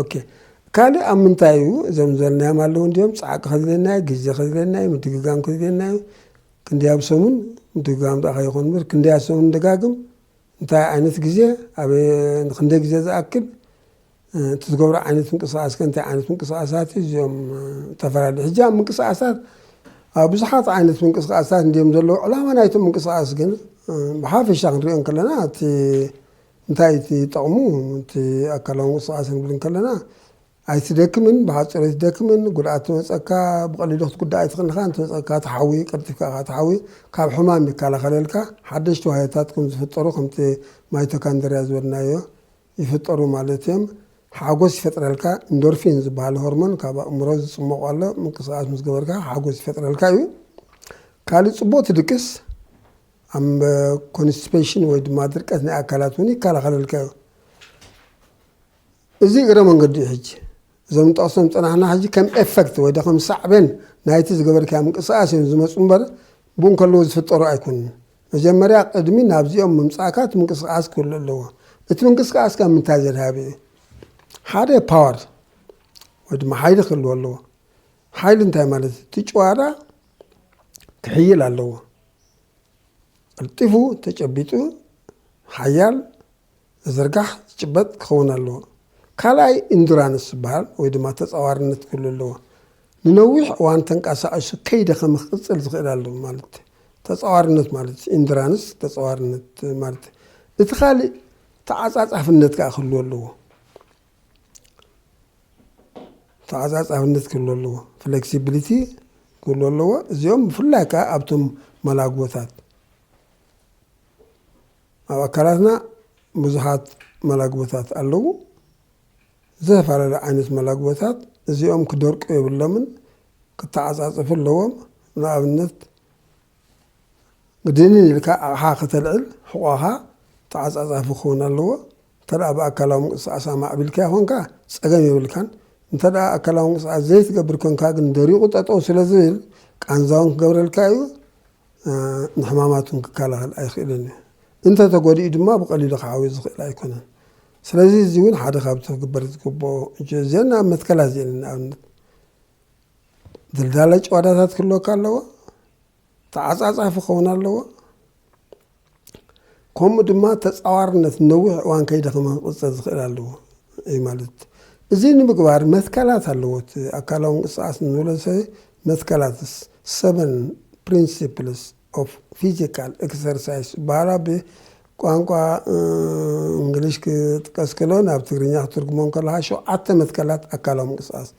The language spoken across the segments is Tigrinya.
ኦኬ ካልእ ኣብ ምንታይ እዩ እዞም ዘልናዮም ኣለዉ እንዲዮም ፃዕቂ ከዝለና እዩ ግዜ ከዝለና እዩ ምድግጋም ከዝለና እዩ ክንደይ ኣብ ሰሙን ምድግጋም ዳኣ ከይኾን ምር ክንደይ ኣብ ሰሙን ንደጋግም እንታይ ዓይነት ግዜ ኣብ ክንደይ ግዜ ዝኣክል እቲ ዝገብሮ ዓይነት ምንቅስቃስ ከ እንታይ ዓይነት ምንቅስቃሳት እዩ እዚኦም ዝተፈላለዩ ሕጂ ኣብ ምንቅስቃሳት ኣብ ብዙሓት ዓይነት ምንቅስቃሳት እንዲዮም ዘለዉ ዕላማ ናይቶም ምንቅስቃስ ግን ብሓፈሻ ክንሪኦ ከለና እቲ እንታይ እዩ እቲ ጠቕሙ? እቲ ኣካላዊ ምንቅስቓስ ክንብል እንከለና ኣይትደክምን፣ ብሓፂሩ ኣይትደክምን፣ ጉድኣት ትበፅኣካ፣ ብቐሊሉ ክትጉዳእ ኣይትኽእልኻ፣ እንተበፅኣካ ትሓዊ፣ ቀልጢፍካ ኢኻ ትሓዊ፣ ካብ ሕማም ይከላኸለልካ፣ ሓደሽቲ ዋህዮታት ከም ዝፍጠሩ ከምቲ ማይቶካንድርያ ዝበልናዮ ይፍጠሩ ማለት እዮም፣ ሓጎስ ይፈጥረልካ፣ ኢንዶርፊን ዝበሃል ሆርሞን ካብ ኣእምሮ ዝፅሞቕ ኣሎ፣ ምንቅስቓስ ምስ ገበርካ ሓጎስ ይፈጥረልካ እዩ፣ ካሊእ ፅቡቕ ትድቅስ፣ ኣብ ኮንስቲፔሽን ወይ ድማ ድርቀት ናይ ኣካላት እውን ይከላኸለልካ እዩ። እዚ እግረ መንገዱ እዩ ሕጂ እዞም ንጠቕሶም ዝፀናሕና ሕጂ ከም ኤፈክት ወይ ከም ሳዕቤን ናይቲ ዝገበርካዮ ምንቅስቓስ እዮም ዝመፁ እምበር ብኡ እንከለዎ ዝፍጠሩ ኣይኮኑን። መጀመርያ ቅድሚ ናብዚኦም ምምፃእካ እቲ ምንቅስቓስ ክህሉ ኣለዎ። እቲ ምንቅስቓስ ካብ ምንታይ ዘድሃበ እዩ? ሓደ ፓወር ወይ ድማ ሓይሊ ክህልዎ ኣለዎ። ሓይሊ እንታይ ማለት እዩ? እቲ ጭዋዳ ክሕይል ኣለዎ። ቀልጢፉ ተጨቢጡ ሓያል ዝዝርጋሕ ዝጭበጥ ክኸውን ኣለዎ። ካልኣይ ኢንዱራንስ ዝበሃል ወይ ድማ ተፃዋርነት ክህሉ ኣለዎ። ንነዊሕ እዋን ተንቀሳቒሱ ከይደኸመ ክቕፅል ዝኽእል ኣለዎ ማለት እዩ። ተፃዋርነት ማለት እዩ። ኢንዱራንስ ተፃዋርነት ማለት እዩ። እቲ ካልእ ተዓፃፃፍነት ከዓ ክህልዎ ኣለዎ። ተዓፃፃፍነት ክህሉ ኣለዎ፣ ፍለክሲብሊቲ ክህሉ ኣለዎ። እዚኦም ብፍላይ ከዓ ኣብቶም መላግቦታት ኣብ ኣካላትና ብዙሓት መላግቦታት ኣለዉ። ዝተፈላለዩ ዓይነት መላግቦታት እዚኦም ክደርቁ የብሎምን፣ ክተዓፃፅፉ ኣለዎም። ንኣብነት ግድንን ኢልካ ኣቕሓ ከተልዕል ሕቋኻ ተዓፃፃፊ ክኸውን ኣለዎ። እንተደኣ ብኣካላዊ ምንቅስቓስ ኣማዕቢልካዮ ኰንካ ጸገም የብልካን፣ እንተደኣ ኣካላዊ ምንቅስቓስ ዘይትገብር ኰንካ ግን ደሪቑ ጠጠው ስለ ዝብል ቃንዛ'ውን ክገብረልካ'ዩ፣ ንሕማማት'ውን ክከላኸል ኣይኽእልን እዩ፣ እንተተጐዲኡ ድማ ብቐሊሉ ክዓውዮ ዝኽእል ኣይኰነን። ስለዚ እዚ'ውን ሓደ ካብቲ ክግበር ዝግብኦ እዮ። እዘን ናብ መትከላት እዚኤን ንኣብነት ድልዳለ ጭዋዳታት ክህልወካ ኣለዎ። ተዓጻጻፊ ክኸውን ኣለዎ፣ ከምኡ ድማ ተጻዋርነት ነዊሕ እዋን ከይደኸመ ክቕጽል ዝኽእል ኣለዎ እዩ ማለት እዚ ንምግባር መትከላት ኣለዎ እቲ ኣካላዊ ምንቅስቓስ ንብሎ ሰ መትከላትስ ሰቨን ፕሪንሲፕልስ ኦፍ ፊዚካል ኤክሰርሳይስ ዝበሃላ ብቋንቋ እንግሊሽ ክጥቀስ ከሎ ናብ ትግርኛ ክትርጉሞ ከለካ ሸውዓተ መትከላት ኣካላዊ ምንቅስቓስ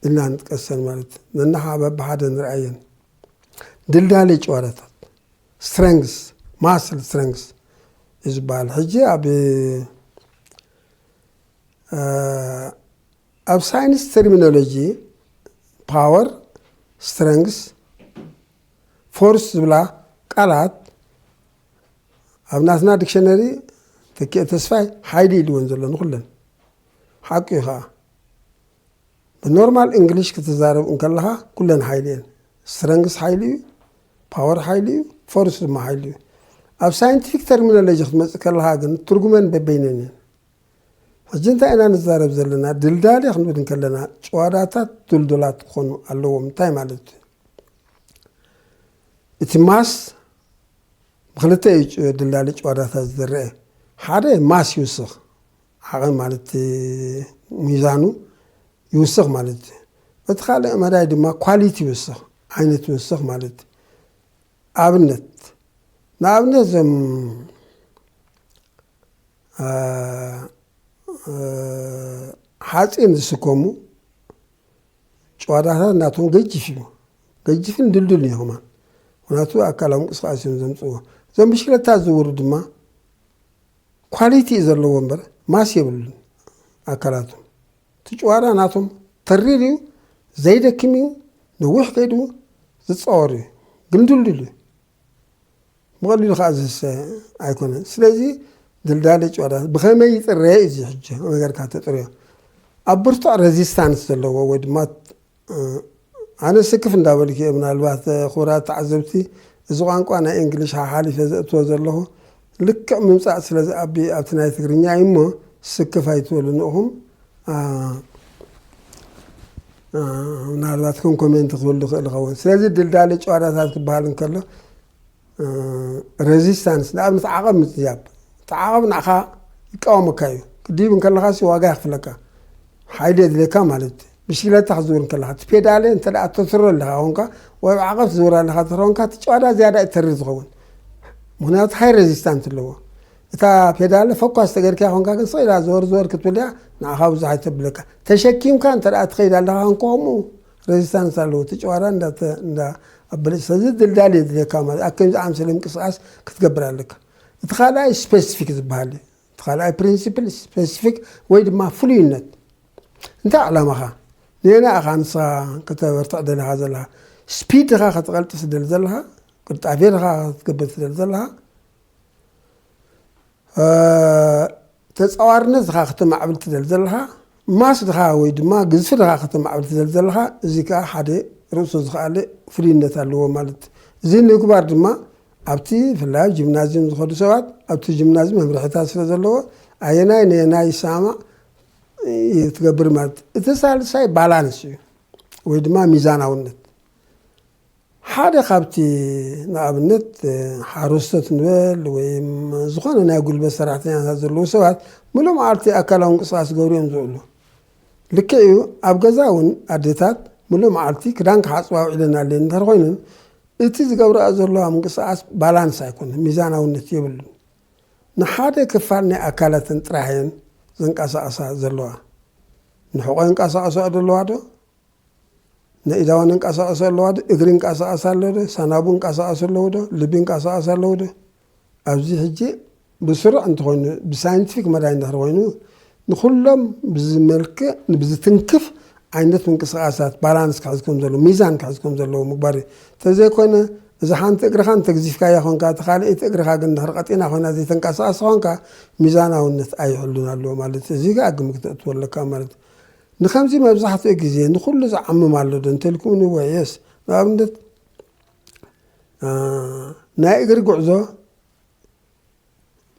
ኢልና ንጥቀሰን ማለት ነናሓ በብሓደ ንርኣየን ድልዳለ ጭዋዳታት ስትረንግስ ማስል ስትረንግስ እዩ ዝበሃል ሕጂ ኣብ ኣብ ሳይንስ ተርሚኖሎጂ ፓወር ስትረንግስ ፎርስ ዝብላ ቃላት ኣብ ናትና ዲክሽነሪ ተኪኤ ተስፋይ ሓይሊ ኢልወን ዘሎ ንኩለን ሓቂ እዩ ከዓ ብኖርማል እንግሊሽ ክትዛረብ እንከለኻ ኩለን ሓይሊ እየን። ስትረንግስ ሓይሊ እዩ፣ ፓወር ሓይሊ እዩ፣ ፎርስ ድማ ሓይሊ እዩ። ኣብ ሳይንቲፊክ ተርሚኖሎጂ ክትመፅእ ከለኻ ግን ትርጉመን በበይነን እየን። ሕጂ እንታይ ኢና ንዛረብ ዘለና? ድልዳሌ ክንብል እንከለና ጭዋዳታት ድልዱላት ክኾኑ ኣለዎም። እንታይ ማለት እዩ? እቲ ማስ ብክልተ እዩ ድልዳሌ ጭዋዳታት ዝድረአ። ሓደ ማስ ይውስኽ፣ ዓቐን ማለት ሚዛኑ ይውስኽ ማለት እዩ። በቲ ካልእ መዳይ ድማ ኳሊቲ ይውስኽ፣ ዓይነት ይውስኽ ማለት እዩ። ኣብነት ንኣብነት እዞም ሓፂን ዝስከሙ ጨዋዳታት ናቶም ገጅፍ እዩ። ገጅፍን ድልድል እዩ ኸማን ምክንያቱ ኣካላዊ ምንቅስቃሴ እዮም ዘምፅዎ። እዞም ብሽክለታ ዝውሩ ድማ ኳሊቲ እዩ ዘለዎ እምበር ማስ የብሉን ኣካላቱ እቲ ጭዋዳ ናቶም ተሪር እዩ ዘይደክም እዩ ነዊሕ ከይዱ ዝፃወር እዩ ግን ድልዱል እዩ ብቐሊሉ ከዓ ዝህሰ ኣይኮነን ስለዚ ድልዳለ ጭዋዳ ብኸመይ ይፅረየ እዚ ሕጂ ነገርካ ተጥርዮ ኣብ ብርቱዕ ረዚስታንስ ዘለዎ ወይ ድማ ኣነ ስክፍ እንዳበልኩ እየ ምናልባት ክቡራት ተዓዘብቲ እዚ ቋንቋ ናይ እንግሊሽ ሓሓሊፈ ዘእትዎ ዘለኹ ልክዕ ምምጻእ ስለ ዝኣቢ ኣብቲ ናይ ትግርኛ እዩ እሞ ስክፍ ኣይትበሉ ንእኹም ምናልባት ከም ኮሜንት ክብል ዝኽእል ይኸውን ስለዚ ድልዳለ ጨዋዳታት ክበሃል እንከሎ ረዚስታንስ ንኣብነት ዓቐብ ምጥያብ እቲ ዓቐብ ንዓኻ ይቃወመካ እዩ ክትድይብ እንከለኻ ሲ ዋጋ የኽፍለካ ሓይሊ የድልየካ ማለት እዩ ብሽግለታ ክትዝውር እንከለኻ እቲ ፔዳለ እንተ ተትሮ ኣለኻ ኮንካ ወይ ኣብ ዓቐብ ትዝውር ኣለኻ ትሮ ኮንካ እቲ ጨዋዳ ዝያዳ እዩ ተርር ዝኸውን ምክንያቱ ሃይ ረዚስታንት ኣለዎ እታ ፔዳለ ፈኳስ ተገርክያ ኮንካ ግን ስቕ ኢላ ዘወር ዘወር ክትብልያ ንዓኻ ብዙሕ ኣይተብለካ ተሸኪምካ እንተ ትኸይድ ኣለኻ ኮንካ ከምኡ ረዚስታንስ ኣለዎ እቲ ጨዋዳ እንዳ ኣበለጭ ስለዚ ድልዳል የድልየካ ማለት ኣብ ከምዚ ኣምሰለ ምንቅስቃስ ክትገብር ኣለካ እቲ ካልኣይ ስፔሲፊክ ዝበሃል እዩ እቲ ካልኣይ ፕሪንሲፕል ስፔሲፊክ ወይ ድማ ፍሉይነት እንታይ ዕላማኻ ንየና ኢኻ ንስኻ ከተበርትዕ ደለኻ ዘለኻ ስፒድ ድኻ ከተቐልጥ ስደሊ ዘለኻ ቅልጣፌ ድኻ ክትገብር ስደሊ ዘለኻ ተጻዋርነት ድኻ ከተማዕብል ትደሊ ዘለኻ፣ ማስ ድኻ ወይ ድማ ግዝፊ ድኻ ከተማዕብል ትደሊ ዘለኻ፣ እዚ ከኣ ሓደ ርእሱ ዝኸኣለ ፍልዩነት ኣለዎ ማለት እዚ ንምግባር ድማ ኣብቲ ብፍላይ ኣብ ጂምናዝዩም ዝኸዱ ሰባት ኣብቲ ጂምናዝ መምርሒታት ስለ ዘለዎ ኣየናይ ነየናይ ይሰማማዕ ትገብር ማለት እቲ ሳልሳይ ባላንስ እዩ ወይ ድማ ሚዛናውነት ሓደ ካብቲ ንኣብነት ሓረስቶት ንበል ወይም ዝኾነ ናይ ጉልበት ሰራሕተኛታት ዘለዉ ሰባት ምሉእ መዓልቲ ኣካላዊ ምንቅስቓስ ክገብሩ እዮም ዝውዕሉ። ልክዕ እዩ ኣብ ገዛ እውን ኣዴታት ምሉእ መዓልቲ ክዳን ክሓፅባ ውዒለን ኣለየን እንድሕር ኮይነን እቲ ዝገብርኣ ዘለዋ ምንቅስቓስ ባላንስ ኣይኮነን፣ ሚዛናውነት የብሉን። ንሓደ ክፋል ናይ ኣካላተን ጥራሕ እየን ዘንቀሳቕሳ ዘለዋ። ንሕቖ የንቀሳቕስኦ ዘለዋ ዶ? ነኢዳዋ ነንቃሳቐስ ኣለዋ ዶ እግሪ ንቃሳቐስ ኣሎ ዶ ሳናቡ ንቃሳቐስ ኣለዉ ዶ ልቢ ንቃሳቐስ ኣለዉ ዶ ኣብዚ ሕጂ ብስሩዕ እንተኾይኑ ብሳይንቲፊክ መዳይ እንድሕር ኮይኑ ንኹሎም ብዝመልክዕ ንብዝትንክፍ ዓይነት ምንቅስቓሳት ባላንስ ክሕዝ ከም ዘለዎ ሚዛን ክሕዝ ከም ዘለዎ ምግባር እዩ እንተዘይኮይነ እዛ ሓንቲ እግርኻ እንተግዚፍካያ ኮንካ እቲ ካልኣይቲ እግርኻ ግን ድሕሪ ቀጢና ኮይና ዘይተንቀሳቐስ ኮንካ ሚዛናውነት ኣይሕሉን ኣለዎ ማለት እዩ እዚ ከዓ ግምት ክተእትዎ ኣለካ ማለት እዩ ንኸምዚ መብዛሕትኡ ግዜ ንኹሉ ዝዓምም ኣሎ ዶ እንተልኩምኒ እወ የስ ንኣብነት ናይ እግሪ ጉዕዞ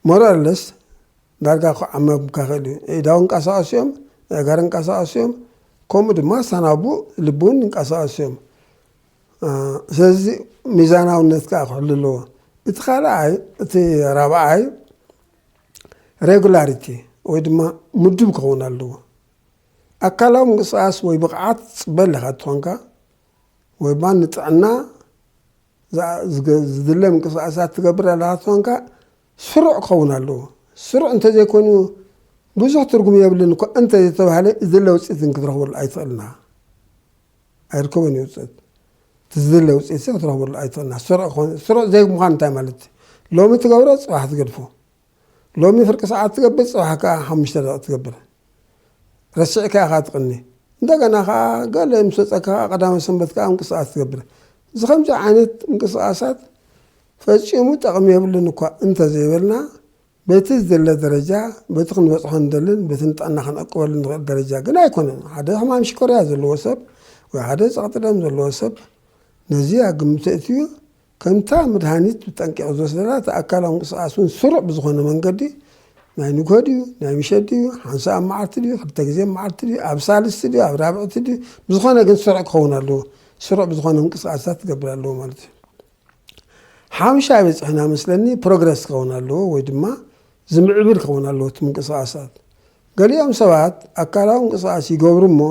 ሞራለስ ዳርጋ ክዓመምካ ክእል እዩ ኢዳው እንቀሳቀሱ እዮም ኣእጋር እንቀሳቀሱ እዮም ከምኡ ድማ ሳናቡ ልቢ እውን እንቀሳቀሱ እዮም ስለዚ ሚዛናውነት ከዓ ክሕሉ ኣለዎ እቲ ካልኣይ እቲ ራብዓይ ሬጉላሪቲ ወይ ድማ ምዱብ ክኸውን ኣለዎ። ኣካላዊ ምንቅስቓስ ወይ ብቕዓት ጽበል ኢኻ እትኾንካ ወይ ድማ ንጥዕና ዝድለ ምንቅስቓሳት ትገብር ኣለኻ እትኾንካ ስሩዕ ክኸውን ኣለዎ። ስሩዕ እንተዘይኮይኑ ብዙሕ ትርጉም የብልን እኳ እንተዘይተባህለ ዝድለ ውፅኢት ክትረኽበሉ ኣይትኽእልና። ኣይርከቦን እዩ ውፅእት እቲ ዝድለ ውፅኢት ሲ ክትረኽበሉ ኣይትኽእልና ስሩዕ ክኾን ስሩዕ ዘይምዃን እንታይ ማለት እዩ ሎሚ ትገብሮ ፅባሕ ትገድፎ ሎሚ ፍርቂ ሰዓት ትገብር ፅባሕ ከዓ ሓሙሽተ ደቂ ትገብር ረሲዕካ ኢኻ ትቕኒ እንደገና ከዓ ገለ ምስ ወፀካ ከዓ ቀዳመ ሰንበት ከዓ ምንቅስቃስ ትገብር እዚ ከምዚ ዓይነት ምንቅስቃሳት ፈፂሙ ጠቕሚ የብሉን እኳ እንተዘይበልና በቲ ዝድለ ደረጃ፣ በቲ ክንበጽሖ ንደልን በቲ ንጥዕና ክንዕቅበሉ ንኽእል ደረጃ ግን ኣይኮነን። ሓደ ሕማም ሽኮርያ ዘለዎ ሰብ ወይ ሓደ ጸቕጢ ደም ዘለዎ ሰብ ነዚ ኣብ ግምት ኣእትዩ ከምታ መድሃኒት ብጠንቂቑ ዝወስደላ እቲ ኣካላዊ ምንቅስቓስ እውን ስሩዕ ብዝኾነ መንገዲ ናይ ንግሆ ድዩ ናይ ምሸት ድዩ ሓንሳ ኣብ መዓልቲ ድዩ ክልተ ግዜ መዓልቲ ድዩ ኣብ ሳልስቲ ድዩ ኣብ ራብዕቲ ድዩ ብዝኾነ ግን ስሩዕ ክኸውን ኣለዎ። ስሩዕ ብዝኾነ ምንቅስቓሳት ክገብር ኣለዎ ማለት እዩ። ሓምሻይ በፂሕና መስለኒ ፕሮግረስ ክኸውን ኣለዎ ወይ ድማ ዝምዕብል ክኸውን ኣለዎ እቲ ምንቅስቃሳት ገሊኦም ሰባት ኣካላዊ ምንቅስቃስ ይገብሩ እሞ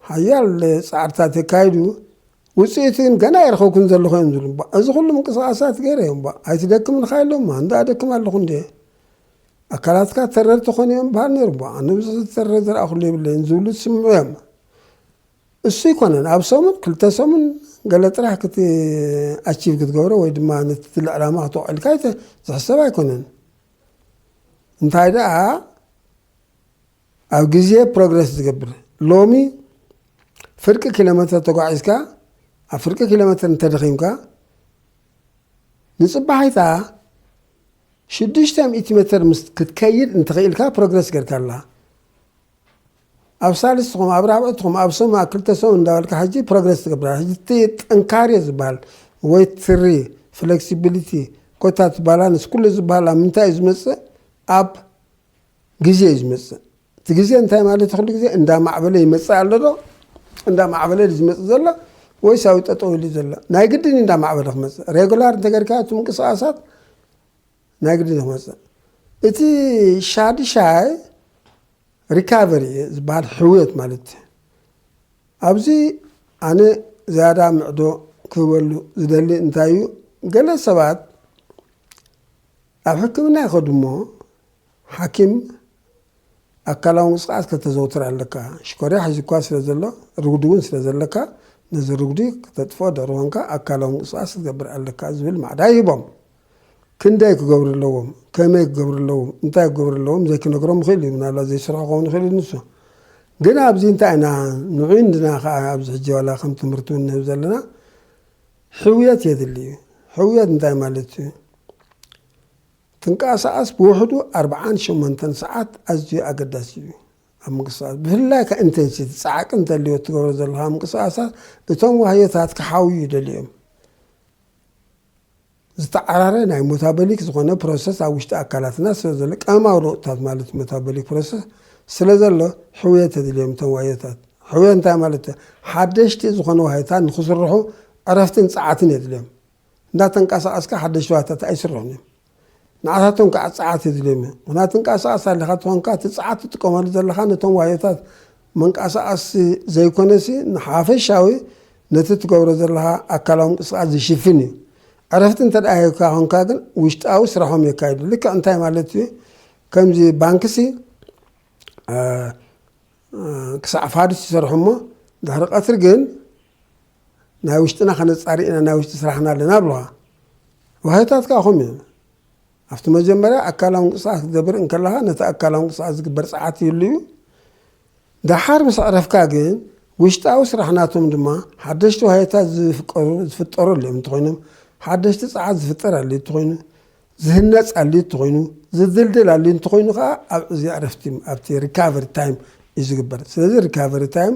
ሓያል ፃዕርታት የካይዱ ውፅኢቱ ግን ገና ኣይረኸብኩን ዘለኹ እዮም ዝብሉ እባ እዚ ኩሉ ምንቅስቃሳት ገይረ እዮም እባ ኣይትደክም ኢልካ የሎማ እንዳ ኣደክም ኣለኹ እንደ ኣካላትካ ተረርቲ ኮኑ እዮም በሃል ነይሩ እባ ኣነ ብዙሕ ዝተረረ ዝረኣኹሉ የብለይን ዝብሉ ትስምዑ እዮም እሱ ኣይኮነን ኣብ ሰሙን ክልተ ሰሙን ገለ ጥራሕ ክት ኣቺቭ ክትገብሮ ወይ ድማ ነቲ ትል ዕላማ ክተውዕልካ ዝሕሰብ ኣይኮነን እንታይ ደኣ ኣብ ግዜ ፕሮግረስ ዝገብር ሎሚ ፍርቂ ኪሎ ሜትር ተጓዒዝካ ኣብ ፍርቂ ኪሎ ሜትር እንተደኺምካ ንፅባሒታ ሽዱሽተ ሚእቲ ሜትር ክትከይድ እንትኽኢልካ ፕሮግረስ ገርካ ኣላ ኣብ ሳልስትኩም ኣብ ራብዕትኩም ኣብ ሰሙን ክልተ ሰሙን እንዳበልካ ሕጂ ፕሮግረስ ትገብር ኣላ ሕጂ እቲ ጥንካሬ ዝበሃል ወይ ትሪ ፍለክሲቢሊቲ ኮታ እቲ ባላንስ ኩሉ ዝበሃል ኣብ ምንታይ እዩ ዝመፅእ ኣብ ግዜ እዩ ዝመፅእ እቲ ግዜ እንታይ ማለት ኩሉ ግዜ እንዳማዕበለ ይመፅእ ኣሎ ዶ እንዳማዕበለ ዝመፅእ ዘሎ ወይስ ኣብኡ ጠጠው ኢሉ ዘሎ ናይ ግድን እንዳማዕበለ ክመፅእ ሬጉላር እንተገርካ እቲ ምንቅስቃሳት ናይ ግድን ክመፅእ እቲ ሻድሻይ ሪካቨሪ ዝበሃል ሕውየት ማለት እዩ። ኣብዚ ኣነ ዝያዳ ምዕዶ ክህበሉ ዝደሊ እንታይ እዩ፣ ገለ ሰባት ኣብ ሕክምና ይኸዱ እሞ ሓኪም ኣካላዊ ምንቅስቓስ ከተዘውትር ኣለካ፣ ሽኮርያ ሒዙካ ስለ ዘሎ ርጉዲ እውን ስለ ዘለካ ነዚ ርጉዲ ክተጥፍኦ ደርሆንካ ኣካላዊ ምንቅስቓስ ክትገብር ኣለካ ዝብል ማዕዳ ይህቦም። ክንደይ ክገብሩ ኣለዎም፣ ከመይ ክገብሩ ኣለዎም፣ እንታይ ክገብሩ ኣለዎም ዘይክነግሮም ይኽእል እዩ፣ ምናልባት ዘይሰርሑ ክኸውን ይኽእል እዩ ንሱ። ግን ኣብዚ እንታይ ኢና ንዑይ እንድና ከኣ ኣብዚ ሕጂ ዋላ ከም ትምህርቲ እውን ንህብ ዘለና ሕውየት የድሊ እዩ። ሕውየት እንታይ ማለት እዩ? ትንቀሳቐስ ብውሕዱ ኣርብዓን ሸሞንተን ሰዓት ኣዝዩ ኣገዳሲ እዩ። ኣብ ምንቅስቓስ ብፍላይ ከ ኢንቴንሲቲ ጻዕቂ እንተልዮ እትገብሮ ዘለኻ ምንቅስቓሳት እቶም ዋህዮታት ክሓውዩ ይደልዩ እዮም። ዝተዓራረ ናይ ሞታበሊክ ዝኾነ ፕሮሰስ ኣብ ውሽጢ ኣካላትና ስለዘሎ ቀመማዊ ለውጥታት ማለት ሞታበሊክ ፕሮሰስ ስለዘሎ ሕውየት የድልዮም እቶም ዋዮታት። ሕውየት እንታይ ማለት እዩ? ሓደሽቲ ዝኾኑ ዋዮታት ንክስርሑ ዕረፍትን ጸዓትን የድልዮም። እንዳተንቀሳቐስካ ሓደሽቲ ዋዮታት ኣይስርሑን እዮም። ንዓታቶም ከዓ ጸዓት የድልዮም እዩ። ምክንያቱ ትንቀሳቐስ ኣለኻ ተኾንካ እቲ ጸዓት ትጥቀመሉ ዘለኻ ነቶም ዋዮታት ምንቃሳቓስ ዘይኮነሲ ንሓፈሻዊ ነቲ ትገብሮ ዘለኻ ኣካላዊ ምንቅስቓስ ዝሽፍን እዩ። ዕረፍቲ እንተድኣ ሂብካ ኮንካ ግን ውሽጣዊ ስራሖም የካይዱ። ልክዕ እንታይ ማለት እዩ? ከምዚ ባንክሲ ክሳዕ ፋዱስ ይሰርሑ እሞ ድሕሪ ቀትሪ ግን ናይ ውሽጥና ከነጻሪ ኢና ናይ ውሽጢ ስራሕና ኣለና ብለኻ። ዋህዮታትካ ከምኡ እዩ። ኣብቲ መጀመርያ ኣካላዊ ምንቅስቓስ ክትገብር እንከለኻ ነቲ ኣካላዊ ምንቅስቓስ ዝግበር ጸዓት ይህሉ እዩ። ደሓር ምስ ኣዕረፍካ ግን ውሽጣዊ ስራሕ ናቶም ድማ ሓደሽቲ ዋህዮታት ዝፍቀሩ ዝፍጠሩ ኣልዮም እንተኾይኖም ሓደሽቲ ጸዓት ዝፍጠር ኣልዩ እንተኾይኑ ዝህነጽ ኣልዩ እንተኾይኑ ዝድልድል ኣልዩ እንተኾይኑ ከዓ ኣብ እዚ ዕረፍቲ ኣብቲ ሪካቨሪ ታይም እዩ ዝግበር። ስለዚ ሪካቨሪ ታይም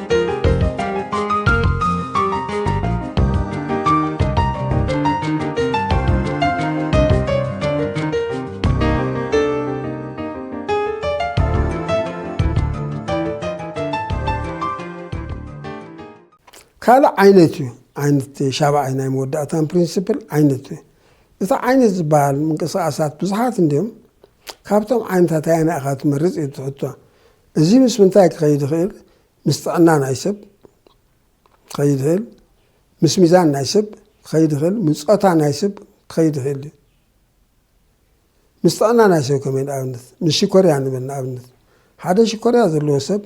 ካልእ ዓይነት እዩ ዓይነት ሻብዓይ ናይ መወዳእታን ፕሪንስፕል ዓይነት እዩ እቲ ዓይነት ዝበሃል ምንቅስቃሳት ብዙሓት እንዲዮም ካብቶም ዓይነታት ኣየና ኢኻ ትመርፅ እዩ ትሕቶ እዚ ምስ ምንታይ ክኸይድ ይኽእል? ምስ ጥዕና ናይ ሰብ ክኸይድ ይኽእል፣ ምስ ሚዛን ናይ ሰብ ክኸይድ ይኽእል፣ ምስ ጾታ ናይ ሰብ ክኸይድ ይኽእል እዩ። ምስ ጥዕና ናይ ሰብ ከመይ ንኣብነት ምስ ሽኮርያ ንበል ንኣብነት ሓደ ሽኮርያ ዘለዎ ሰብ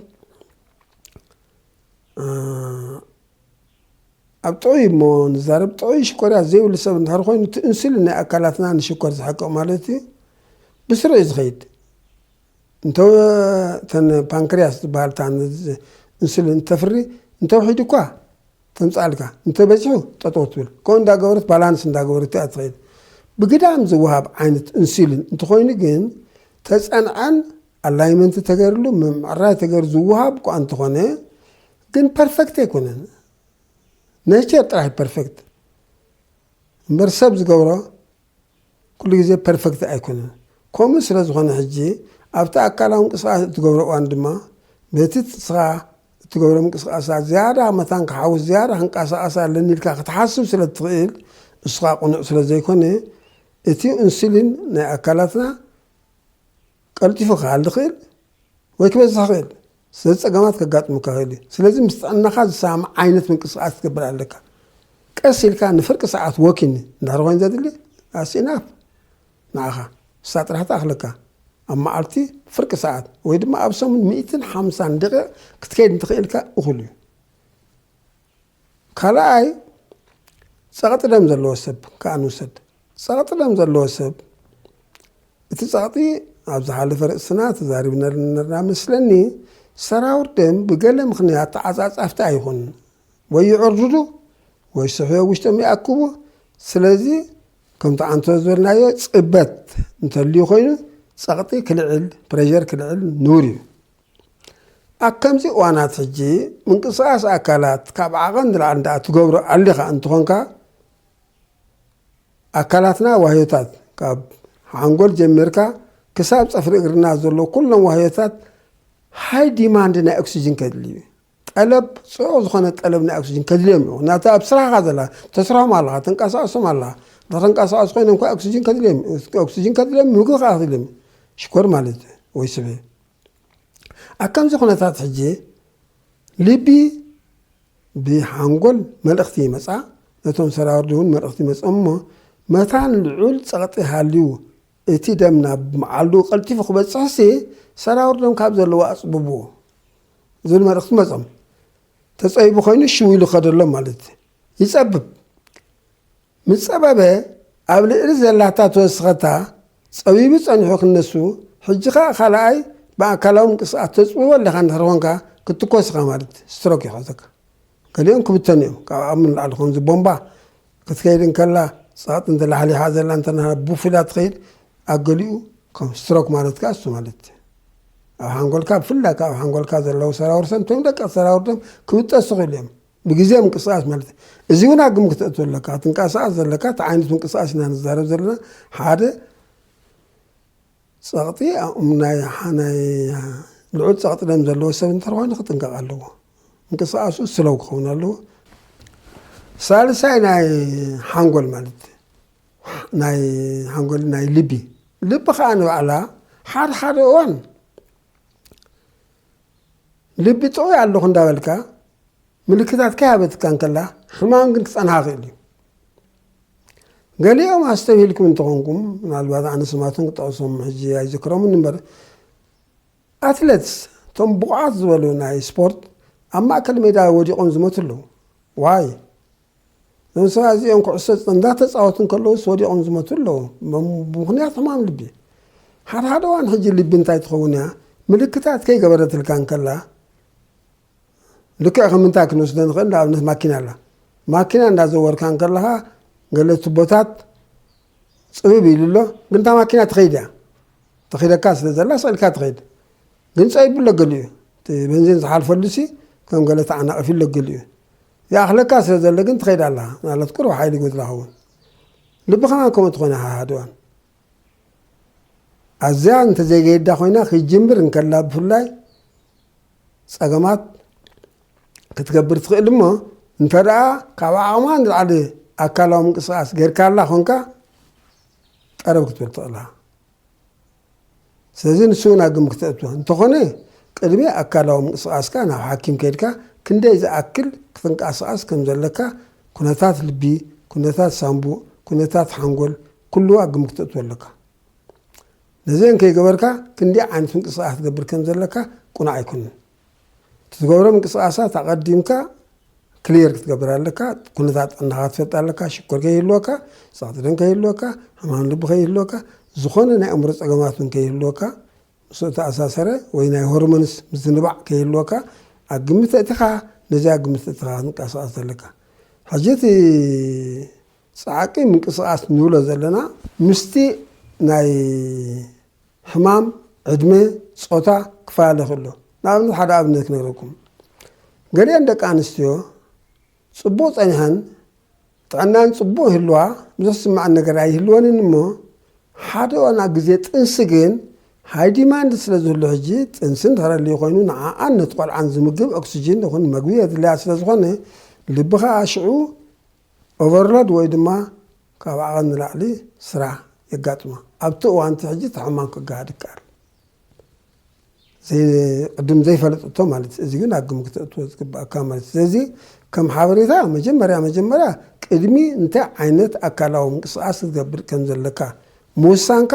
ኣብ ጥዑይ እሞ ንዛረብ ጥዑይ ሽኮርያ ዘይብሉ ሰብ እንድሕር ኮይኑ እቲ ኢንሱሊን ናይ ኣካላትና ንሽኮር ዝሕቅቕ ማለት እዩ ብስሩ እዩ ዝኸይድ እንተ እተን ፓንክርያስ ዝበሃል እታ እንሱሊን እተፍሪ እንተ ውሒዱ እኳ ተምጽኣልካ፣ እንተ በዚሑ ጠጠው ትብል። ከምኡ እንዳ ገበረት ባላንስ እንዳ ገበረት እያ እትኸይድ። ብግዳም ዝወሃብ ዓይነት እንሱሊን እንተኾይኑ ግን ተጸንዐን ኣላይመንት ተገይርሉ ምምዕራይ ተገይሩ ዝወሃብ እኳ እንተኾነ ግን ፐርፌክት ኣይኮነን። ኔቸር ጥራሕ ፐርፌክት እምበር ሰብ ዝገብሮ ኩሉ ግዜ ፐርፈክት ኣይኮነን። ከምኡ ስለ ዝኾነ ሕጂ ኣብቲ ኣካላዊ ምንቅስቓስ እትገብሮ እዋን ድማ በቲ ንስኻ እትገብሮ ምንቅስቓሳት ዝያዳ መታን ክሓውስ ዝያዳ ክንቀሳቐስ ኣለኒ ኢልካ ክትሓስብ ስለ እትኽእል እሱ ከኣ ቅኑዕ ስለ ዘይኮነ እቲ ኡንሱሊን ናይ ኣካላትና ቀልጢፉ ክሓሊ ይኽእል ወይ ክበዝሕ ይኽእል። ስለዚ ጸገማት ከጋጥሙካ ይኽእል እዩ። ስለዚ ምስ ጥዕናኻ ዝሰማማዕ ዓይነት ምንቅስቓስ ክትገብር ኣለካ። ቀስ ኢልካ ንፍርቂ ሰዓት ወኪን እንድሕር ኮይኑ ዘድሊ that's enough ንዓኻ ንሳ ጥራሕ ትኣኽለካ። ኣብ መዓልቲ ፍርቂ ሰዓት ወይ ድማ ኣብ ሰሙን ሚእትን ሓምሳን ደቂቕ ክትከይድ እንተኽኢልካ እኹል እዩ። ካልኣይ ጸቕጢ ደም ዘለዎ ሰብ ከኣ ንውሰድ። ጸቕጢ ደም ዘለዎ ሰብ እቲ ጸቕጢ ኣብ ዝሓለፈ ርእስና ተዛሪብነሉ ነርና መስለኒ ሰራውር ደም ብገለ ምኽንያት ተዓጻጻፍቲ ኣይኹን ወይ ይዕርድዱ ወይ ስሕዮ ውሽጦም ይኣክቡ ስለዚ ከምቲ ኣንቶ ዝበልናዮ ጽበት እንተልዩ ኮይኑ ጸቕጢ ክልዕል ፕሬዠር ክልዕል ንቡር እዩ ኣብ ከምዚ እዋናት ሕጂ ምንቅስቓስ ኣካላት ካብ ዓቐን ንላዕሊ እንድኣ ትገብሮ ኣሊኻ እንትኾንካ ኣካላትና ዋህዮታት ካብ ሓንጎል ጀሚርካ ክሳብ ፀፍሪ እግርና ዘሎ ኩሎም ዋህዮታት ሃይ ዲማንድ ናይ ኦክሲጅን ከድልዩ ጠለብ ጽዑቕ ዝኾነ ጠለብ ናይ ኦክስጅን ከድልዮም እዩ። ምክንያቱ ኣብ ስራህ ኢኻ ዘለኻ፣ ተስርሖም ኣለኻ፣ ተንቀሳቕሶም ኣለኻ። ንክንቀሳቐሱ ኮይኖም ከኣ ኦክስጅን ከድልዮም እዩ። ኦክስጅን ከድልዮም ምግቢ ከኣ ከድልዮም እዩ። ሽኮር ማለት እዩ ወይ ስብ እዩ። ኣብ ከምዚ ኩነታት ሕጂ ልቢ ብሓንጎል መልእኽቲ ይመጻ፣ ነቶም ሰራውርዲ እውን መልእኽቲ ይመጽኦም እሞ መታን ልዑል ጸቕጢ ሃልዩ እቲ ደም ናብ መዓልዱ ቀልጢፉ ክበፅሕሲ ሰራውር ደም ካብ ዘለዎ ኣፅብብዎ ዝብል መልእኽቲ መፆም። ተፀቢቡ ኮይኑ ሽው ኢሉ ከደሎም ማለት ይፀብብ። ምስ ፀበበ ኣብ ልእሊ ዘላታ ተወስኸታ ፀቢቡ ፀኒሑ ክነሱ ሕጂ ከዓ ካልኣይ ብኣካላዊ ምንቅስቃስ ተፅብቦ ኣለኻ እንድሕር ኮንካ ክትትኮስ ኢኻ ማለት ስትሮክ ይሕዘካ። ገሊኦም ክብተኑ እዮም ካብ ዓቅሚ ንላዕሊ ከምዚ ቦምባ ክትከይድ እንከላ ጸቕጢ እንተ ላሕሊሓ ዘላ እንተ ብፍላ ትኸይድ ኣብ ገሊኡ ከም ስትሮክ ማለት ከኣ እሱ ማለት ኣብ ሓንጎልካ ብፍላይ ካብ ሓንጎልካ ዘለዉ ሰራውር ሰም እቶም ደቀ ሰራውር ደም ክብጠሱ ክእሉ እዮም ብግዜ ምንቅስቃስ ማለት እዚ እውን ኣብ ግምት ክትእቱ ኣለካ ትንቀሳቀስ ዘለካ እቲ ዓይነት ምንቅስቃስ ኢና ንዛረብ ዘለና ሓደ ጸቕጢ ኣእምናይ ሓናይ ልዑል ጸቕጢ ደም ዘለዎ ሰብ እንተኾይኑ ክጥንቀቕ ኣለዎ። ምንቅስቓሱ ስለው ክኸውን ኣለዎ። ሳልሳይ ናይ ሓንጎል ማለት ናይ ሓንጎል ናይ ልቢ ልቢ ከዓ ንባዕላ ሓደ ሓደ እዋን ልቢ ጥዑ ኣለኹ እንዳበልካ ምልክታት ከይሃበትካ እንከላ ሕማም ግን ክፀንሃ ክእል እዩ ገሊኦም ኣስተብሂልኩም እንተኾንኩም ምናልባት ኣነ ስማቶም ክጠቕሶም ሕጂ ኣይዝክሮምን እምበር ኣትለትስ እቶም ብቑዓት ዝበሉ ናይ ስፖርት ኣብ ማእከል ሜዳ ወዲቖም ዝመቱ ኣለዉ ዋይ እዞም ሰባት እዚኦም ኩዕሶ እንዳተፃወቱ እንከለውስ ወዲቖም ዝመቱ ኣለዉ ብምክንያት ሕማም ልቢ ሓደ ሓደ እዋን ሕጂ ልቢ እንታይ ትኸውን እያ ምልክታት ከይገበረትልካ እንከላ ልክዕ ከም እንታይ ክንወስዶ ንኽእል ንኣብነት ማኪና ኣላ ማኪና እንዳዘወርካ እንከለኻ ገለ ቱቦታት ፅብብ ኢሉ ኣሎ ግን እታ ማኪና ትኸይድ እያ ተኺደካ ስለ ዘላ ስዕልካ ትኸይድ ግን ፀቢቡ ኣሎ ገሊኡ እዩ እቲ በንዚን ዝሓልፈሉ ሲ ከም ገለ ተዓናቒፊ ኣሎ ገሊኡ ይኣኽለካ ስለ ዘሎ ግን ትኸይድ ኣላ ምናልባት ቁሩብ ሓይሊ ይጎድላ ኸውን ልቢ ከማን ከምኡ ትኾነ ሃሃድዋን ኣዝያ እንተዘይገይዳ ኮይና ክጅምር እንከላ ብፍላይ ፀገማት ክትገብር ትኽእል እሞ እንተደኣ ካብ ዓቕማ ንላዕሊ ኣካላዊ ምንቅስቓስ ጌርካላ ኮንካ ጠረብ ክትብል ትኽእላ ስለዚ ንሱ እውን ኣብ ግምት ክተእትዎ እንተኾነ ቅድሚ ኣካላዊ ምንቅስቓስካ ናብ ሓኪም ከድካ ክንደይ ዝኣክል ክትንቀሳቐስ ከም ዘለካ ኩነታት ልቢ ኩነታት ሳንቡእ ኩነታት ሓንጎል ኩሉ ኣብ ግምት ክተእትዎ ኣለካ ነዚኤን ከይገበርካ ክንደይ ዓይነት ምንቅስቓስ ክትገብር ከም ዘለካ ቁኑዕ ኣይኮነን። እቲ ትገብሮ ምንቅስቓሳት ኣቐዲምካ ክሊየር ክትገብር ኣለካ። ኩነታት ጥዕናኻ ክትፈልጥ ኣለካ። ሽኮር ከይህልወካ፣ ጸቕጢ ደም ከይህልወካ፣ ሕማም ልቢ ከይህልወካ፣ ዝኾነ ናይ ኣእምሮ ጸገማት እውን ከይህልወካ፣ ምስኡ እተኣሳሰረ ወይ ናይ ሆርሞንስ ምዝንባዕ ከይህልወካ ኣብ ግምት ኣእቲኻ ነዚኣ ኣብ ግምት ኣእቲኻ ክንቀሳቐስ ዘለካ። ሕጂ እቲ ጸዓቂ ምንቅስቃስ ንብሎ ዘለና ምስቲ ናይ ሕማም፣ ዕድመ፣ ጾታ ክፈላለ ይኽእልዶ። ንኣብነት ሓደ ኣብነት ክነግረኩም። ገሊኤን ደቂ ኣንስትዮ ጽቡቕ ጸኒሐን ጥዕናን ጽቡቕ ይህልዋ ብዙሕ ዝስምዐን ነገር ኣይህልወንን እሞ ሓደ እዋን ኣብ ግዜ ጥንሲ ግን ሃይ ዲማንድ ስለ ዝህሉ ሕጂ ጥንሲ እንድሕር ኣልዩ ኮይኑ ንዓኣን ነቲ ቆልዓን ዝምግብ ኦክስጅን ይኹን መግቢ የድልያ ስለ ዝኾነ ልቢ ከኣ ሽዑ ኦቨርሎድ ወይ ድማ ካብ ዓቐን ንላዕሊ ስራሕ የጋጥማ። ኣብቲ እዋን እቲ ሕጂ እቲ ሕማም ክገሃድ ይከኣል። ቅድም ዘይፈለጠቶ ማለት እዚ ግን ኣብ ግምት ክተእትዎ ዝግባእካ ማለት ስለዚ ከም ሓበሬታ መጀመርያ መጀመርያ ቅድሚ እንታይ ዓይነት ኣካላዊ ምንቅስቃስ ክትገብር ከም ዘለካ ምውሳንካ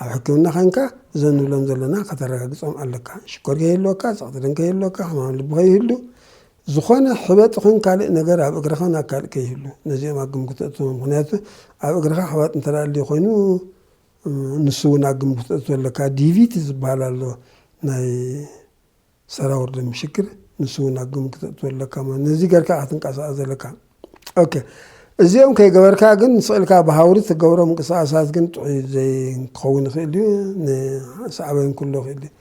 ኣብ ሕክምና ኸንካ እዞም ንብሎም ዘለና ከተረጋግፆም ኣለካ ሽኮር ከይህልወካ ፀቕጢ ደም ከይህልወካ ሕማም ልቢ ከይህሉ ዝኾነ ሕበጥ ይኹን ካልእ ነገር ኣብ እግርኻን ኣብ ካልእ ከይህሉ ነዚኦም ኣብ ግምት ተእትዎም። ምክንያቱ ኣብ እግርኻ ሕባጥ እንተ ኣልዩ ኮይኑ ንሱ እውን ኣብ ግምት ተእትዎ ኣለካ። ዲቪቲ ዝበሃል ኣሎ ናይ ሰራውር ደም ሽግር ንሱ እውን ኣብ ግምት ተእትዎ ኣለካ ማለት ነዚ ገርካ ክትንቀሳቐስ ዘለካ። ኦኬ እዚኦም ከይገበርካ ግን ምስ ኽእልካ ብሃውሪ ትገብሮ ምንቅስቃሳት ግን ጥዑይ ዘይክኸውን ይኽእል እዩ ንሰዕበን ኩሎ ይኽእል እዩ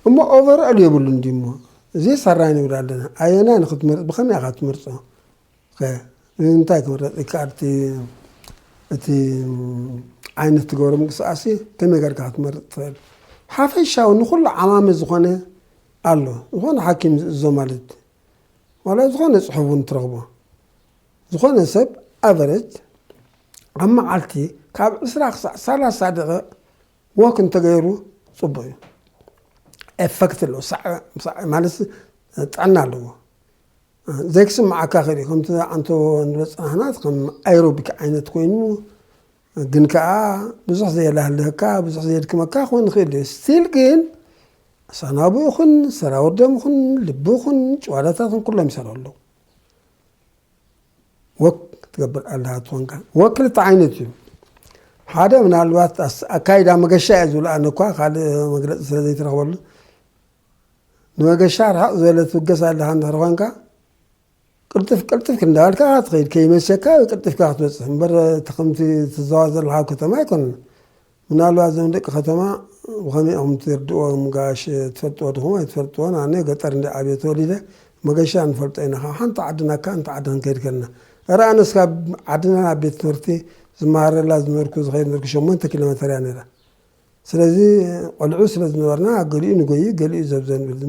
እሞ ኦቨርኦል የብሉን ድዩ እሞ እዚ ሰራይ ንብል ኣለና ኣየናይ ንክትመርፅ ብኸመይ ኢኻ ትመርፆ እንታይ ክምረፅ ይከኣል እቲ ዓይነት ትገብሮ ምንቅስቃሴ ከመይ ገርካ ክትመርፅ ትኽእል ሓፈሻዊ ንኩሉ ዓማሚ ዝኾነ ኣሎ ዝኾነ ሓኪም ዝእዞ ማለት ዋላ ዝኾነ ፅሑፍ እውን ትረኽቦ ዝኾነ ሰብ ኣቨረጅ ኣብ መዓልቲ ካብ ዕስራ ክሳዕ ሰላሳ ደቂቕ ወክ እንተገይሩ ፅቡቅ እዩ ኤፈክት ኣለዎ ማለት ጥዕና ኣለዎ ዘይክስምዓካ ክእል ከምቲ ኣንቶ ንበፅናሕናት ከም ኣይሮቢክ ዓይነት ኮይኑ ግን ከኣ ብዙሕ ዘየላህልህካ ብዙሕ ዘየድክመካ ክኾን ይኽእል እዩ ስቲል ግን ኣሳናብኡ ኹን ሰራውር ደም ኹን ልቢ ኹን ጨዋዳታት ኹን ኩሎም ይሰሩ ኣለዉ ወክ ትገብር ኣለሃ ትኾንካ ወክ ክልተ ዓይነት እዩ ሓደ ምናልባት ኣካይዳ መገሻ እየ ዝብሉ ኣነ እኳ ካልእ መግለፂ ስለ ዘይተረኽበሉ ንመገሻ ርሓቕ ዝበለ ትብገስ ኣለኻ እንድሕር ኾንካ ቅልጥፍ ቅልጥፍ እንዳበልካ ኢኻ ትኸይድ ከይመሸካ ቅልጥፍካ ክትበፅሕ እምበር እቲ ከምቲ ትዘዋ ዘለኻ ኣብ ከተማ ኣይኮነን ምናልባት እዞም ደቂ ከተማ ብኸመይ ኢኹም ትርድእዎም ጋሽ ትፈልጥዎ ድኹም ኣይትፈልጥዎን ኣነ ገጠር እንዲ ዓብየ ተወሊደ መገሻ ንፈልጦ ኢና ካብ ሓንቲ ዓዲ ናካ እንተ ዓዲ ክንከይድ ከለና እረ ኣነስ ካብ ዓድና ናብ ቤት ትምህርቲ ዝመሃረላ ዝነበርኩ ዝኸይድ ነበርኩ ሸሞንተ ኪሎ ሜተር እያ ነይራ ስለዚ ቆልዑ ስለ ዝነበርና ገሊኡ ንጎዪ ገሊኡ ዘብዘ ንብል።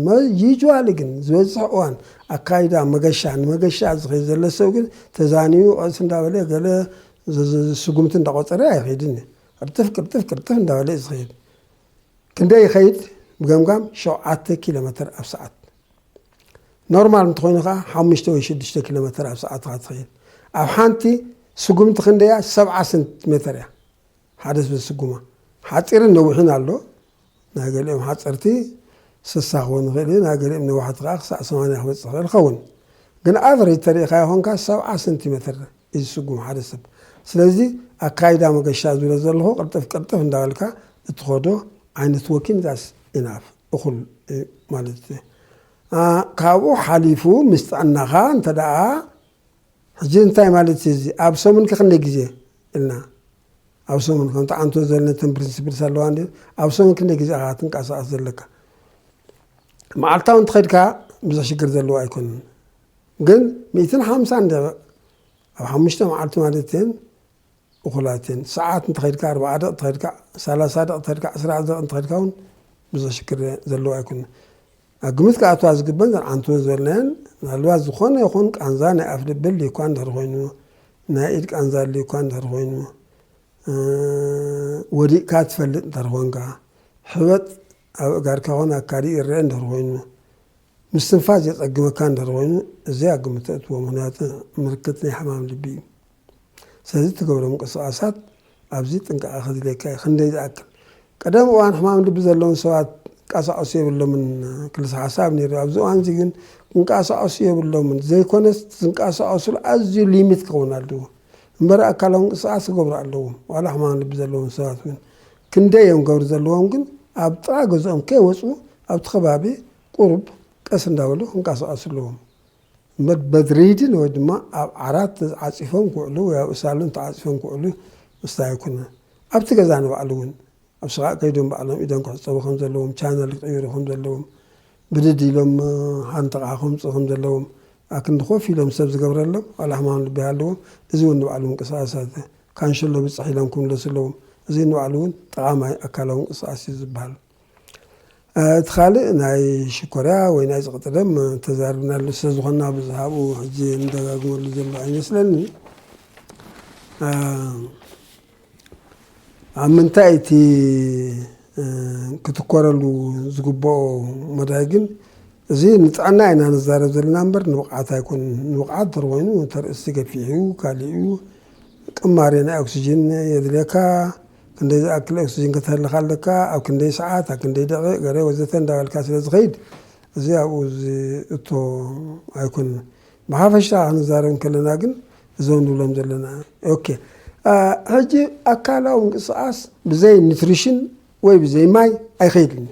ዩጅዋሊ ግን ዝበዝሕ እዋን ኣካይዳ መገሻ ንመገሻ ዝኸይድ ዘሎ ሰብ ግን ተዛንዩ ቐስ እንዳበለ ገለ ስጉምቲ እንዳቖፀረ ኣይኸይድን እዩ። ቅርጥፍ ቅርጥፍ ቅርጥፍ እንዳበለ እዩ ዝኸይድ። ክንደይ ይኸይድ? ብገምጋም ሸውዓተ ኪሎ መተር ኣብ ሰዓት ኖርማል እንተኾይኑ ከዓ ሓሙሽተ ወይ ሽዱሽተ ኪሎ መተር ኣብ ሰዓት ኢኻ ትኸይድ። ኣብ ሓንቲ ስጉምቲ ክንደያ ሰብዓ ሰንቲሜተር እያ። ሓደ ሰብ ዝስጉማ ሓጺርን ነዊሕን ኣሎ። ናይ ገሊኦም ሓጸርቲ ስሳ ክኸውን ይኽእል እዩ፣ ናይ ገሊኦም ነዋሕቲ ከኣ ክሳዕ ሰማንያ ክበጽሕ ይኽእል ይኸውን። ግን ኣቨሬጅ ተሪኢኻዮ ኮንካ ሰብዓ ሰንቲ መትር እዩ ዝስጉም ሓደ ሰብ። ስለዚ ኣካይዳ መገሻ ዝብሎ ዘለኹ ቅልጥፍ ቅልጥፍ እንዳበልካ እትኸዶ ዓይነት ወኪን ዛስ ኢናፍ እኹል እዩ ማለት እዩ። ካብኡ ሓሊፉ ምስ ጥዕናኻ እንተደኣ ሕጂ እንታይ ማለት እዩ እዚ ኣብ ሰሙን ከ ክንደይ ግዜ ኢልና ኣብ ሰሙን ከምቲ ኣንቶ ዝበለ ነተን ፕሪንሲፕልስ ኣለዋ እንድዩ ኣብ ሰሙን ክንደይ ግዜ ኢኻ ትንቀሳቐስ ዘለካ መዓልታዊ እንተኸድካ ብዙሕ ሽግር ዘለዎ ኣይኮነን ግን ሚእትን ሓምሳን ደቂቕ ኣብ ሓሙሽተ መዓልቲ ማለት እየን እኹላት እየን። ሰዓት እንተኸድካ ኣርብዓ ደቒቕ ተኸድካ ሰላሳ ደቒቕ ተኸድካ ዕስራ ደቒቕ እንተኸድካ እውን ብዙሕ ሽግር ዘለዎ ኣይኮነን። ኣብ ግምት ክኣትዋ ዝግበን ዘን ዓንትወ ዝበልናየን ምናልባት ዝኾነ ይኹን ቃንዛ ናይ ኣፍ ልቢ ኣልዩ እኳ እንድሕር ኮይኑ ናይ ኢድ ቃንዛ ኣልዩ እኳ እንድሕር ኮይኑ ወዲቕካ ትፈልጥ እንተር ኮንካ ሕበጥ ኣብ እጋርካ ኾን ኣካዲ ይረአ እንድሕር ኮይኑ ምስትንፋስ የፀግመካ እንድሕር ኮይኑ እዚ ኣብ ግምት ተእትዎ ምክንያቱ ምልክት ናይ ሕማም ልቢ እዩ። ስለዚ እትገብሮ ምንቅስቓሳት ኣዝዩ ጥንቃቐ ከድልየካ እዩ። ክንደይ ዝኣክል ቀደም እዋን ሕማም ልቢ ዘለዎም ሰባት ይንቀሳቐሱ የብሎምን ክልሰ ሓሳብ ነይሩ። ኣብዚ እዋን እዚ ግን ክንቀሳቐሱ የብሎምን ዘይኮነስ ዝንቀሳቐሱሉ ኣዝዩ ሊሚት ክኸውን ኣለዎ እምበር ኣካላዊ ምንቅስቓስ ክገብሩ ኣለዎም። ዋላ ሕማም ልቢ ዘለዎም ሰባት እውን ክንደይ እዮም ገብሪ ዘለዎም ግን ኣብ ጥቓ ገዝኦም ከይወፁ ኣብቲ ከባቢ ቁሩብ ቀስ እንዳበሉ ክንቀሳቐሱ ኣለዎም። መድሪድን ወይ ድማ ኣብ ዓራት ዓጺፎም ክውዕሉ ወይ ኣብ ሳሎን ተዓጺፎም ክውዕሉ ምስታይ ኣይኮነን። ኣብቲ ገዛ ንባዕሉ እውን ኣብ ስቓእ ከይዶም ባዕሎም ኢዶም ክሕጸቡ ከም ዘለዎም፣ ቻነል ክቕይሩ ከም ዘለዎም፣ ብድድ ኢሎም ሃንጥቓ ከምጽኡ ከም ዘለዎም፣ ኣክንዲ ኮፍ ኢሎም ሰብ ዝገብረሎም ዋላ ሕማም ልቢ ይሃልዎም እዚ እውን ንባዕሉ ምንቅስቓሳት ካንሸሎ ብጽሕ ኢሎም ክምለሱ ኣለዎም። እዚ ንባዕሉ እውን ጠቓማይ ኣካላዊ ምንቅስቓስ እዩ ዝበሃል። እቲ ካልእ ናይ ሽኮርያ ወይ ናይ ጽቕጢ ደም ተዛርብናሉ ስለ ዝኾንና ብዙሕ ኣብኡ ሕጂ ንደጋግመሉ ዘሎ ኣይመስለኒ ኣብ ምንታይ እቲ ክትኮረሉ ዝግብኦ መዳይ ግን እዚ ንጥዕና ኢና ንዛረብ ዘለና እምበር ንብቕዓት ኣይኮን ንብቕዓት ድር ኮይኑ ተርእስቲ ገፊሕ እዩ ካልእ እዩ ቅማሬ ናይ ኦክሲጅን የድልየካ ክንደይ ዝኣክል ኦክስጅን ከተህልኽ ኣለካ፣ ኣብ ክንደይ ሰዓት፣ ኣብ ክንደይ ደቒቕ፣ ገሬ ወዘተ እንዳበልካ ስለ ዝኸይድ እዚ ኣብኡ ዝእቶ ኣይኮነን። ብሓፈሻ ክንዛረብ እንከለና ግን እዞም ንብሎም ዘለና ኦኬ ሕጂ ኣካላዊ ምንቅስቓስ ብዘይ ኒትሪሽን ወይ ብዘይ ማይ ኣይኸይድን እዩ።